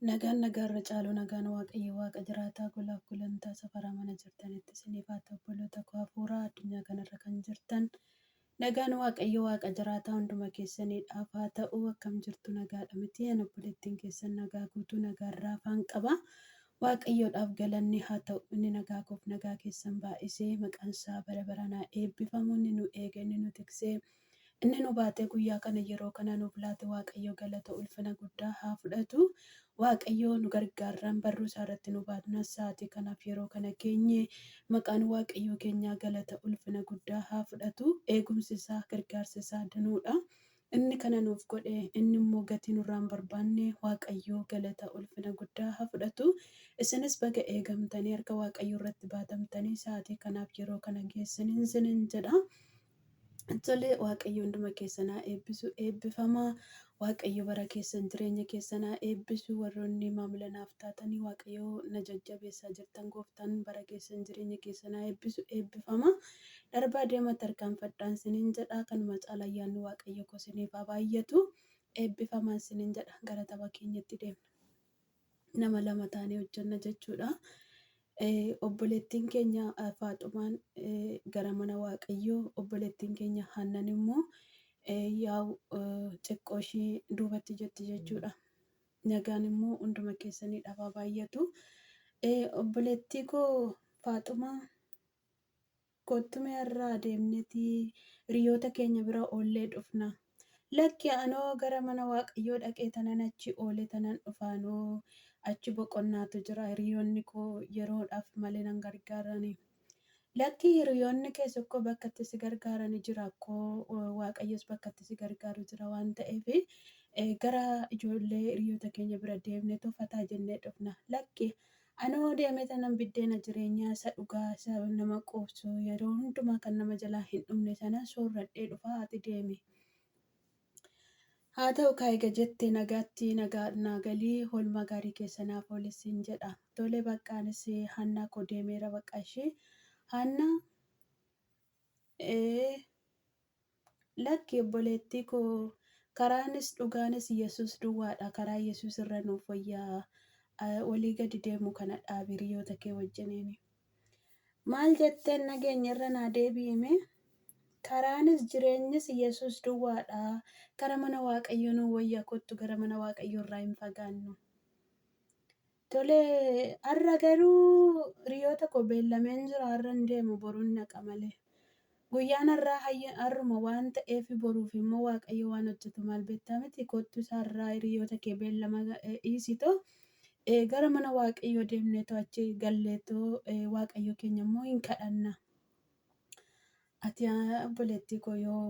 Nagaan nagaa irra caalu nagaan waaqayyo waaqa jiraataa golaaf gulantaa safaraa mana jirtanitti isiniif haa ta'u obboloota koo hafuuraa addunyaa kanarra kan jirtan nagaan waaqayyo waaqa jiraataa hunduma keessaniidhaaf haa ta'u akkam jirtu nagaadha miti an obboleettiin keessan nagaa guutuu nagaarraa afaan qaba waaqayyoodhaaf galanni haa ta'u inni nagaa koof nagaa keessan baay'isee maqaan isaa bara baranaa eebbifamu inni nu eege inni nu tiksee Inni nu baatee guyyaa kana yeroo kana nuuf laate Waaqayyo galata ulfina guddaa haa fudhatu. Waaqayyo nu gargaarraan barruu isaa irratti nu baatnaan sa'aatii kanaaf yeroo kana geenye. Maqaan Waaqayyoo keenyaa galata ulfina guddaa haa fudhatu. Eegumsi isaa gargaarsi isaa danuudha. Inni kana nuuf godhe inni immoo gatii nurraa hin barbaanne Waaqayyoo galata ulfina guddaa haa fudhatu. Isinis baga eegamtanii harka Waaqayyoo irratti baatamtanii sa'aatii kanaaf yeroo kana geessaniin isiniin jedha. Tole waaqayyo hunduma keessan haa eebbisu eebbifamaa waaqayyo bara keessan jireenya keessan haa eebbisu warroonni maamila naaf taatanii waaqayyo na jajjabeessaa jirtan gooftaan bara keessan jireenya keessan haa eebbisu eebbifamaa darbaa deema tarkaanfadhaan sinin jedha kanuma caala ayyaanni waaqayyo koo siniif haa baay'atu eebbifamaan sinin jedha gara tapha keenyatti deemna. nama lama taanee hojjenna jechuudha. Obboleettiin keenya Faaxumaan gara mana Waaqayyoo, obboleettiin keenya Haannan immoo yaa'u xiqqoo ishii duubatti jetti jechuudha. Nagaan immoo hunduma keessanii dhabaa baay'atu. Obboleettii koo Faaxumaa Kottu mee har'a adeemneti hiriyoota keenya bira oollee dhufna. Lakki anoo gara mana Waaqayyoo dhaqee tanan achi oole tanan dhufa anoo achi boqonnaatu jira hiriyoonni koo yeroodhaaf male nan gargaarani. Lakki hiriyoonni kee tokko bakka itti si gargaarani jira akkoo Waaqayyos bakka itti si gargaaru jira waan ta'eef gara ijoollee hiriyoota keenya bira deemnetu fataa jennee dhufna. Lakki Ani hoo deemee tanan biddeena jireenyaa isa dhugaa isa nama quubsu yeroo hundumaa kan nama jalaa hin dhumne sana soorradhee dhufa ati deemi. Haa ta'u kaa ega jette nagaatti nagaa naa gali hoolmaa gaarii keessa naaf ooli siin jedha. Tole baqqa anis Haannaa koo deemeera baqqa ishii. Haannaa. Ee, lakki obboleettii koo, karaanis dhugaanis Yesuus duwwaadha. Karaa Yesuus irra nuuf wayya eh, olii gadi deemu kana dhaabi hiriyoota kee wajjiniin. Maal jetteen nageenye irra naa deebi'ime? Karaanis jireenyis Yesuus duwwaadha. Kara mana Waaqayyoo nuu wayya kottu gara mana Waaqayyoo irraa hin fagaannu. Tole har'a garuu hiriyoota koo beellameen jira har'a hin deemu boruun dhaqa malee. Guyyaan har'aa hayya- har'uma waan ta'eef boruuf immoo waaqayyo waan hojjetu maal beektaa miti kottu isa har'aa hiriyoota kee beellama eh, dhiisitoo eh, gara mana waaqayyoo deemneetoo achi galleetoo eh, waaqayyo keenya immoo hin kadhanna. Ati yaa obboleettii koo yoo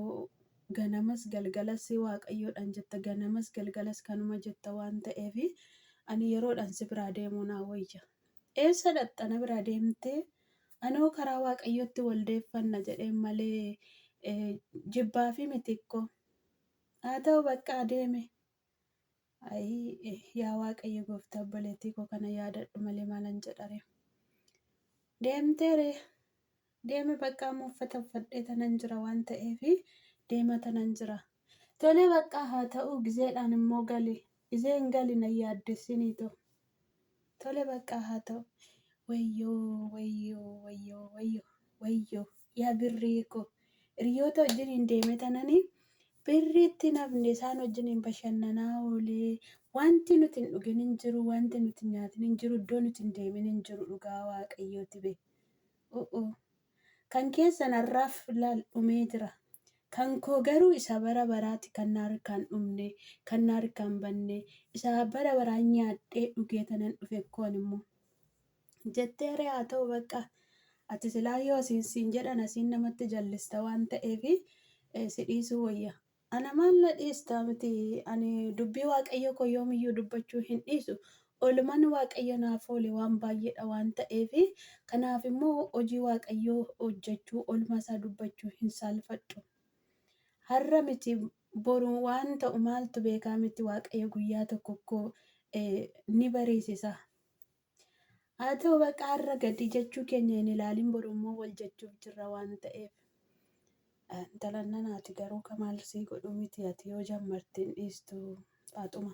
ganamas galgalas waaqayyoodhaan jetta ganamas galgalas kanuma jetta waan ta'eef ani yeroodhaan si biraa deemuu naa wayya. Eessa dhaqxa na biraa deemtee anoo karaa waaqayyootti wal deeffanna jedheen malee eh, jibbaafi miti koo. Haa ta'u baqqaa deeme. Ayii yaa waaqayyo gooftaa obboleettii koo kana yaadadhu malee maalan jedhare. Deemteere deeme baqqaa amma uffata uffadhee tanan jira waan ta'eef deema tanan jira. Tolee baqqaa haa ta'uu gizeedhaan immoo gali. Gizeen gali na yaaddessinii too. Tole baqqaa haa ta'u. Wayyoo wayyoo wayyoo wayyoo wayyoo yaa birrii koo hiriyoota wajjiniin deeme tananii birrii itti hin hafne isaan wajjiniin bashannanaa oolee wanti nuti hin dhugin hin jiru wanti nuti hin nyaatin hin jiru iddoo nuti hin deemin hin jiru dhugaa waaqayyooti be. U'uu. Kan keessan har'aaf laal dhumee jira. Kan koo garuu isa bara baraati kan na harkaa hin dhumne, kan na harkaa hin banne, isa bara baraa nyaadhee dhugee tanan dhufe koon immoo. Jettee ree haa ta'u baqqaa. Ati silaa yoo siin siin jedhan asiin namatti jallista waan ta'eef si dhiisuu wayya. Ana maal na dhiista miti, ani dubbii Waaqayyoo koo yoom iyyuu dubbachuu hin dhiisu. Oolmaan Waaqayyo naaf oole waan baay'ee dha waan ta'eef, kanaaf immoo hojii Waaqayyoo hojjechuu, oolmaa isaa dubbachuu hin saalfadhu. Har'a miti boru waan ta'u maaltu beekaa miti Waaqayyo guyyaa tokko koo ni bariisisa. Haa ta'u baqa har'a gadii jechuu keenya hin ilaalin boru immoo wal jechuuf jirra waan ta'eef. Intalan nanaati garuu kamaal sii godhuu miti ati yoo jammarte hin dhiistu faaxuma.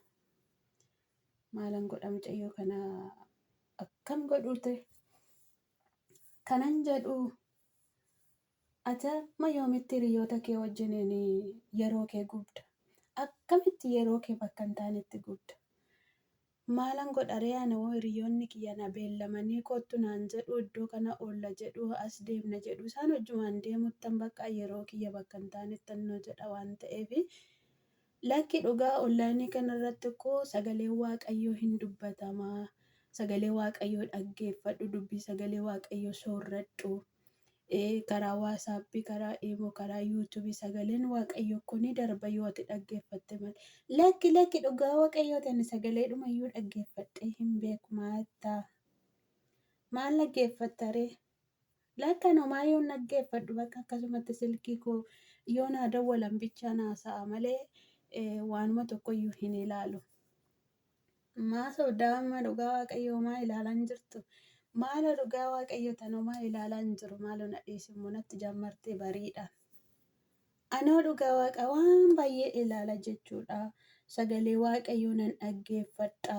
Maalan godha mucayyoo kana akkam godhuute. Kanan jedhu ati amma yoomitti hiriyoota kee wajjiniin yeroo kee gubda. Akkamitti yeroo kee bakka hin taanetti gubda. Maalan godharee ana hoo hiriyoonni kiyya na beellamanii koottu naan jedhu iddoo kana oolla jedhu as deemna jedhu isaan wajjumaan deemuttan baqqa yeroo kiyya bakka hin taanettan na jedha waan ta'eef Lakki dhugaa online kanarratti akkoo sagaleen waaqayyoo hin dubbatama sagalee waaqayyoo dhaggeeffadhu dubbii sagalee waaqayyoo soorradhu Karaa WhatsApp, karaa Imo, karaa YouTube sagaleen Waaqayyo kun ni darba yoo ati dhaggeeffatte malee. Lakki lakki dhugaa Waaqayyoo ta'e ani sagalee dhumayyuu dhaggeeffadhee hin beeku maattaa. Maal dhaggeeffatta ree? Lakka nomaa yoon dhaggeeffadhu bakka akkasumatti silkii koo yoo naa dawwalan bichaa naa sa'a malee waanuma tokkoyyuu hin ilaalu. Maa sobdaa amma dhugaa waaqayyo homaa ilaalaa hin jirtu. Maalo dhugaa waaqayyo tan homaa ilaalaa hin jiru maalo na dhiisi immoo natti jammarte bariidhaan. Anoo dhugaa waaqa waan baay'ee ilaala jechuudha. Sagalee waaqayyoo nan dhaggeeffadha.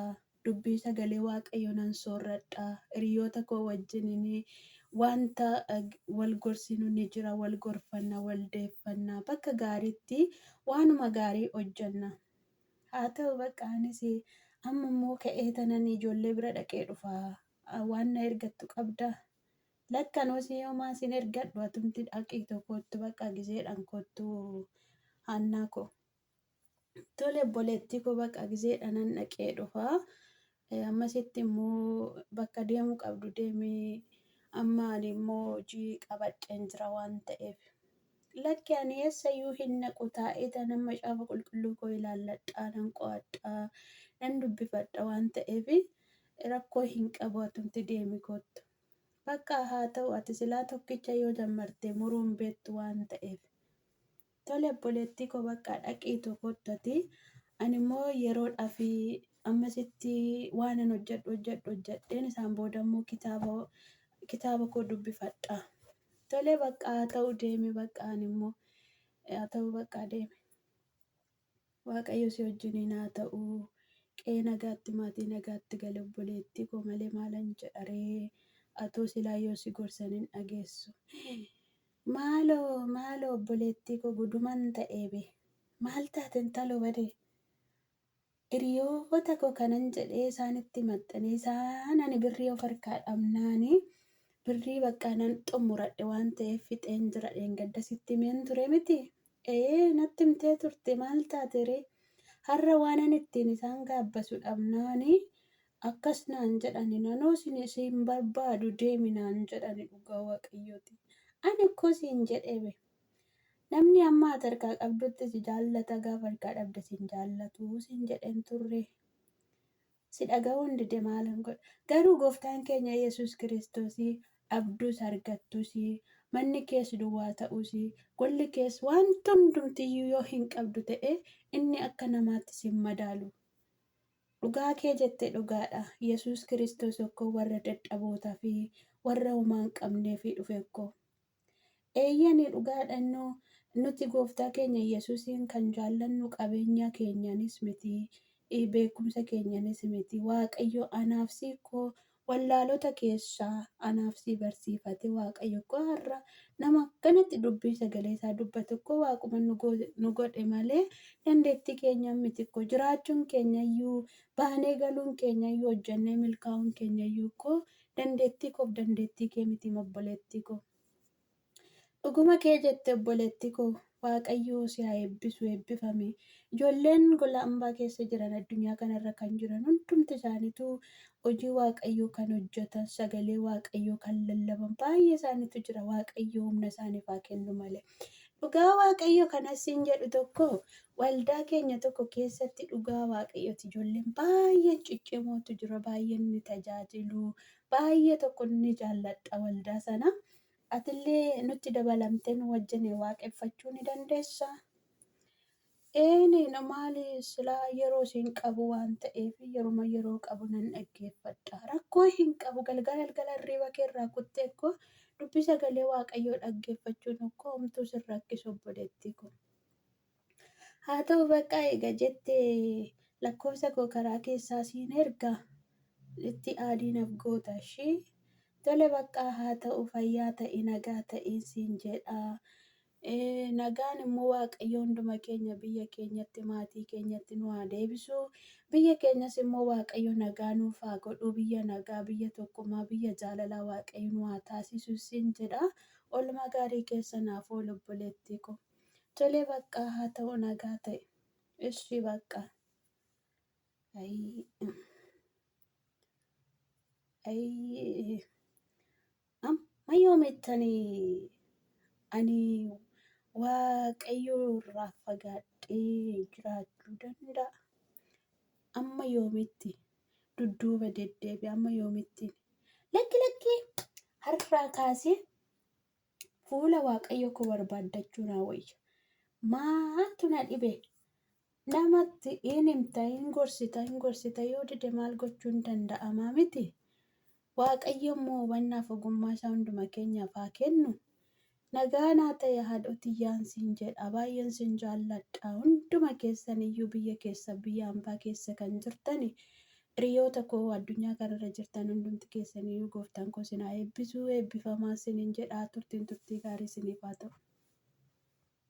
Dubbii sagalee waaqayyoo nan soorradha. Hiriyoota koo wajjinin wanta eh, wal gorsinu ni jira, wal gorfanna, wal deeffanna. Bakka gaariitti waanuma gaarii hojjenna. Haa ta'u baqqaa anis amma immoo ka'ee tanan ijoollee bira dhaqee dhufa. Waan na ergattu qabdaa? Lakki anoo si homaa sin ergadhu atumti dhaqiitoo koottu baqqaa gizeedhaan koottu Haannaa koo. Tole obboleettii koo baqqaa gizeedhaanan dhaqee dhufa. Ee ammasitti immoo bakka deemuu qabdu deemi amma ani immoo hojii qabadheen jira waan ta'eef lakki ani eessayyuu hin naqu taa'eeta nan macaafa qulqulluu koo ilaalladhaa nan qo'adhaa nan dubbifadha waan ta'eef rakkoo hin qabu atumti deemi koottu bakka haa ta'u ati silaa tokkicha yoo jammartee muruu hin beektu waan ta'eef Tole obboleettii koo baqqaa dhaqiitu kottati ani immoo yeroodhaaf ammasitti waanan hojjedhu hojjedhu hojjedheen isaan booda immoo kitaaba kitaaba koo dubbifadha. Tole baqqaa haa ta'u deemi baqqaa ani immoo haa ta'u baqqaa deemi. Waaqayyo si wajjiniin haa ta'u. Qe'ee nagaatti maatii nagaatti gali obboleettii koo malee maalan jedha ree atuu silaa yoo si gorsan hin dhageessu maaloo maaloo obboleettii koo guduman ta'ee bee maal taate intaloo badee hiriyoota koo kanan jedhee isaanitti maxxanee isaan ani birrii of harkaa dhabnaani birrii baqqaa nan xumuradhe waan ta'eef fixeen jira dheengadda sitti himeen ture miti Eeyee natti himtee turte maal taate ree? Har'a waanan ittiin isaan gaabbasu dhabnaani akkas naan jedhani nanoo sini siin barbaadu deemi naan jedhani dhugaa waaqayyooti ani akkoo siin jedhee be namni amma ati harkaa qabdutti si jaallata gaafa harkaa dhabde sin jaallatu siin jedheen turre si dhaga'uun dide maalan godha? Garuu Gooftaan keenya Yesuus Kiristoos dhabduus argattuus, manni kees duwwaa ta'uus, golli kees wanti hundumti iyyuu yoo hin qabdu ta'e inni akka namaatti si hin madaalu. Dhugaa kee jette dhugaa dha. Yesuus Kiristoos okkoo warra dadhabootaa fi warra homaa hin qabneef dhufe okkoo. Eeyyeen, dhugaadha innoo, nuti Gooftaa keenya Yesusiin kan jaallannu qabeenya keenyanis miti, beekumsa keenyanis miti. Waaqayyo anaaf si koo wallaalota keessaa anaaf si barsiifate. Waaqayyo koo har'a nama akkanatti dubbii sagalee isaa dubbatu koo waaquma nu go- nu godhe malee dandeettii keenyaan miti koo jiraachuun keenyayyuu baanee galuun keenyayyuu hojjennee milkaa'uun keenyayyuu koo Dandeettii koof dandeettii kee miti mobboleettii koo. Dhuguma kee jette obboleettii koo waaqayyoo si haa eebbisu eebbifami. Ijoolleen gola ambaa keessa jiran addunyaa kanarra kan jiran hundumti isaanitu hojii waaqayyoo kan hojjetan sagalee waaqayyoo kan lallaban baay'ee isaanitu jira waaqayyoo humna isaaniif haa kennu malee. Dhugaa waaqayyo kanas siin jedhu tokko waldaa keenya tokko keessatti dhugaa waaqayyooti ijoolleen baay'een ciccimootu jira baay'een ni tajaajilu baay'ee tokko ni jaalladha waldaa sana atillee nutti dabalamtee nu wajjin waaqeffachuu ni dandeessa. Eeneedha maali silaa yeroo siin qabu waan ta'eef yeruma yeroo qabu nan dhaggeeffadha rakkoo hin qabu galgala galgala hirriiba kee irraa kuttee koo dubbi sagalee waaqayyoo dhaggeeffachuun okkoo homtuu sin rakkisu obboleettii koo haa ta'u bakka eega jette lakkoofsa koo karaa keessaa siin erga itti aadiinaf goota ishii tole baqqaa haa ta'u fayyaa ta'e nagaa ta'een siin jedha Nagaan immoo Waaqayyo hunduma keenya biyya keenyatti maatii keenyatti nu haa deebisu. Biyya keenyas immoo Waaqayyo nagaa nuuf haa godhu. Biyya nagaa, biyya tokkummaa, biyya jaalalaa Waaqayyo nu haa taasisu sin jedha. Oolmaa gaarii keessa naaf oolu obboleettii ko. Tolee baqqaa haa ta'u nagaa ta'e. Ishii baqqaa. Ayii. Ayii. Amma yoomittani ani Waaqayyoo irraa fagaadhee jiraachuu danda'a? Amma yoomitti dudduuba deddeebi? Amma yoomitti lakki lakki har'aa kaasee fuula Waaqayyoo koo barbaaddachuu naa wayya. Maaltu na dhibe? Namatti in himta, in gorsita, in gorsita yoo dide maal gochuun danda'amaa miti? Waaqayyo immoo hubannaaf ogummaa isaa hunduma keenyaaf haa kennu. Nagaan haa ta'e haadhoo tiyyaan siin jedha baay'een sin jaalladha hunduma keessan iyyuu biyya keessa biyya ambaa keessa kan jirtani hiriyoota koo addunyaa kanarra jirtan hundumti keessan iyyuu gooftaan koo sin haa eebbisuu eebbifamaa sinin jedha turtiin turtii gaarii siniif haa ta'u.